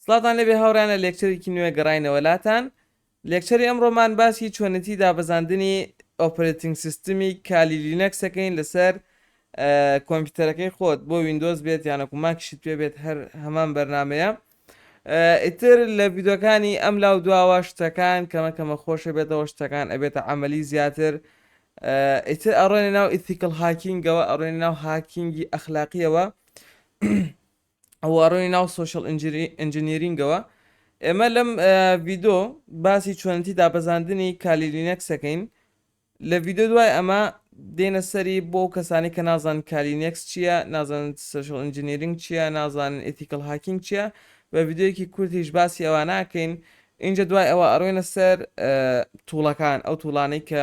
سڵاوتان لێبێ هاوڕێیان لە لێکچەرێکی نوێ گەڕاینەوە لاتان لێکچەری ئەمڕۆمان باسی چۆنێتی دابەزاندنی ئۆپرێتینگ سیستمی کالی لینەکس ەکەین لەسەر کۆمپیوتەرەکەی خۆت بۆ وینندۆز بێت یانەکو ماکیشت پێ بێت هەر هەمان بەرنمەیە ئیتر لە ویدۆکانی ئەم لاو دواوە شتەکان کەمە کەمە خۆشە بێتەوە شتەکان ئەبێتە ئەمەلی زیاتر ئیتر ئەڕێنە ناو ئیتیکل هاکینگەوە ئەڕێنە ناو هاکینگی ئەخلاقیەوە وەڕووی ناو سۆشیال ئینجینیرینگەوە ئێمە لەم ڤیدۆ باسی چۆنەتی دابەزاندنی کالی لینەکس دەکەین لە ڤیدۆ دوای ئەمە دێنە سەری بۆ ئەو کەسانی کە نازان کالینێکس چییە نازان سشل ئەنجنیرنگ چییە نازانن ئتیکل هاکینگ چییە بە یددیوەکی کورتیش باسی ئەوە ناکەین اینجا دوای ئەوە ئەڕۆێنە سەر توڵەکان ئەو توڵانەی کە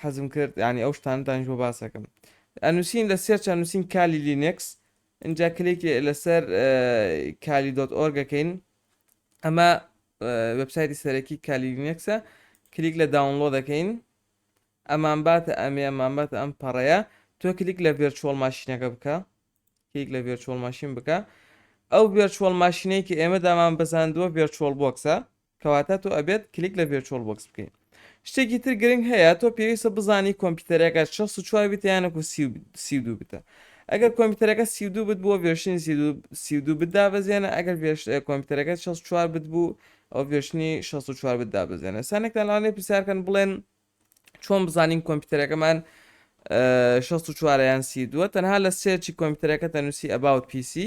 حەزم کرد یعنی ئەو شتانە دانیش بۆ باسەکەم ئەنووسین لە سێرچ ئەنووسین کالی لینکس اینجا کلێکی لەسەر کالی دۆت ئۆرگەکەین ئەمە وبسایتی سەرەکی کالی لینکسە کلیک لە داونلۆ دەکەین ئەمان باتە ئەمێ ئەمان باتە ئەم پەڕەیە تۆ کلیک لە ڤێرچۆڵ ماشینەکە بکە کلیک لە ڤێرچۆڵ ماشین بکە ئەو ڤێرچۆڵ ماشینەی کە ئێمە دامان بەزاندووە ڤێرچۆڵ بۆکسە کەواتە تۆ ئەبێت کلیک لە ڤێرچۆڵ بۆکس بکەیت شتێکی تر گرنگ هەیە تۆ پێویستە بزانی کۆمپیوتەرەکە 64 بیتە یانەکو سی دو بتە ئەگەر کۆمپیوتەرەکە سی دو بت بووە ڤێرشنی سی دو بت دابەزێنە ئەگەر کۆمپیوتەرەکە 64 بت بوو ئەو ڤێرشنی 64 بت دابەزێنە سانێکتان لاانێ پرسیارکەن بڵێن چۆن بزانین کۆمپیوتەرەکەمان 64 یان سی دووە تەنها لە سێرچی کۆمپیوتەرەکە تەنووسی ئەباوت پیسی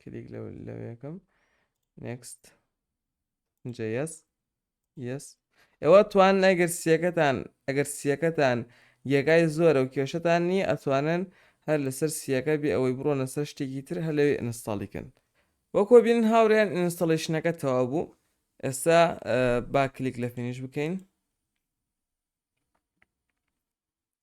کلیک لەو لەوێکم نێکست جە یەس یەس ئێوە توان ئەگەر سیەکەتان ئەگەر سیەکەتان یەکای زۆرە و کێشتان نییە ئەتوانن هەر لەسەر سیەکە بێ ئەوەی بڕۆنە سەر شتێکی تر هەر لەوێ ئینستاڵیکن وەکۆ بین هاوریان ئینستاڵیشنەکە تەوا بوو ئێستا با کلیک لە فینیش بکەین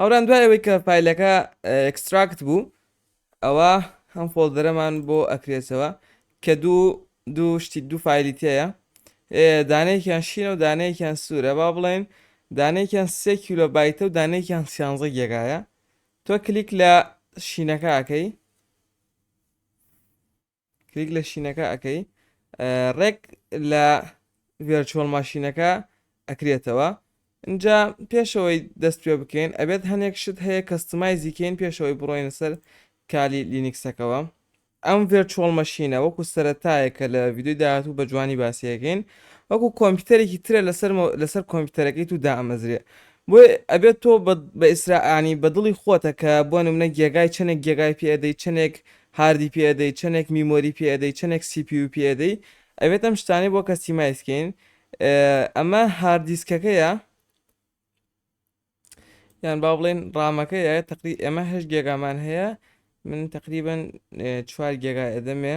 هاوران دوای ئەوەی کە فایلەکە ئێکستراکت بوو ئەوە هەم فۆڵدەرەمان بۆ ئەکرێتەوە کە دوو دوو شتی دوو فایلی تێیە دانەیەکیان شینە و دانەیەکیان سوورە با بڵێن دانەیەکیان سێ کیلۆ بایتە و دانەیەکیان سیانزە گێگایە تۆ کلیک لە شینەکەکەی کلیک لە شینەکە ئەکەی ڕێک لە ڤێرچۆڵ ماشینەکە ئەکرێتەوە اینجا پێشەوەی دەست پێ بکەین ئەبێت هەنێک شت هەیە کەستمایزیکەین پێشەوەی بڕۆینە سەر کالی لینیکسەکەەوە ئەم ڤێرچۆڵ مەشینە وەکو سەرەتایەکە لە ویددیو داهاتوو بە جوانی باسیەکەین وەکو کۆمپیوتەرێکی ترە لەسەر لەسەر کۆمپیوتەرەکەی تو دامەزرێ بۆی ئەبێت تۆ بە ئیسراانی بە دڵی خۆتە کە بۆ نمونە گێگای چەندێک گێگای پێدەی چەندێک هاردی پێ ئەدەی چەنێک میمۆری پێ ئەدەی چەنێک سی پی یو پێ ئەدەی ئەبێت ئەم شتانەی بۆ کەستیمایز کەین ئەمە هارد دیسکەکەیە یان با بڵێن ڕامەکەیە تقری ئێمە هەش گێگامان هەیە من تقریبن چوار گێگا ئەدەمێ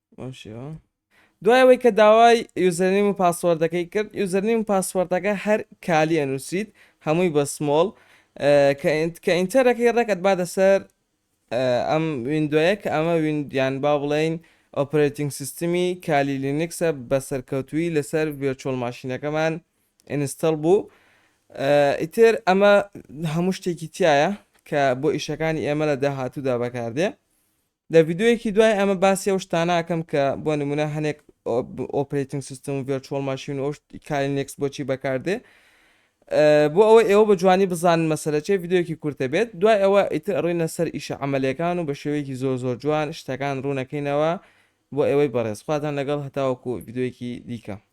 بەم شێوە دوای ئەوەی کە داوای یوزەرنیم و پاسوەردەکەی کرد یوزەرنیم و پاسوەردەکە هەر کالی ئەنووسیت هەمووی بە سمۆڵ کە ئینتەرەکەی ڕێک ئەتباتە سەر ئەم ویندۆیە کە ئەمە ویندیان با بڵێین ئۆپرێتینگ سیستمی کالی لینکسە بە سەرکەوتوی لەسەر ڤێرچۆل ماشینەکەمان ئینستەڵ بوو ئیتر ئەمە هەموو شتێکی تایە کە بۆ ئیشەکانی ئێمە لە داهاتوودا بەکاردێ لە ڤیدیۆیەکی دوای ئەمە باسی ئەو شتانە ئەکەم کە بۆ نمونە هەنێک ئۆپرەیتنگ سیستم و ڤێرچوەڵ ماشین و ئەو کاری نێکس بۆچی بەکاردێ بۆ ئەوە ئێوە بە جوانی بزانن مەسەلە چێ ڤیددیوکی کورتە بێت دوای ئەوە ئیتر ئەڕینە سەر ئیشە عملەکان و بە شێوەیەکی زۆر زۆر جوان شتەکان ڕوونەکەینەوە بۆ ئێوەی بەڕێز خواتان لەگەڵ هەتاوەکو ڤیددیوکی دیکە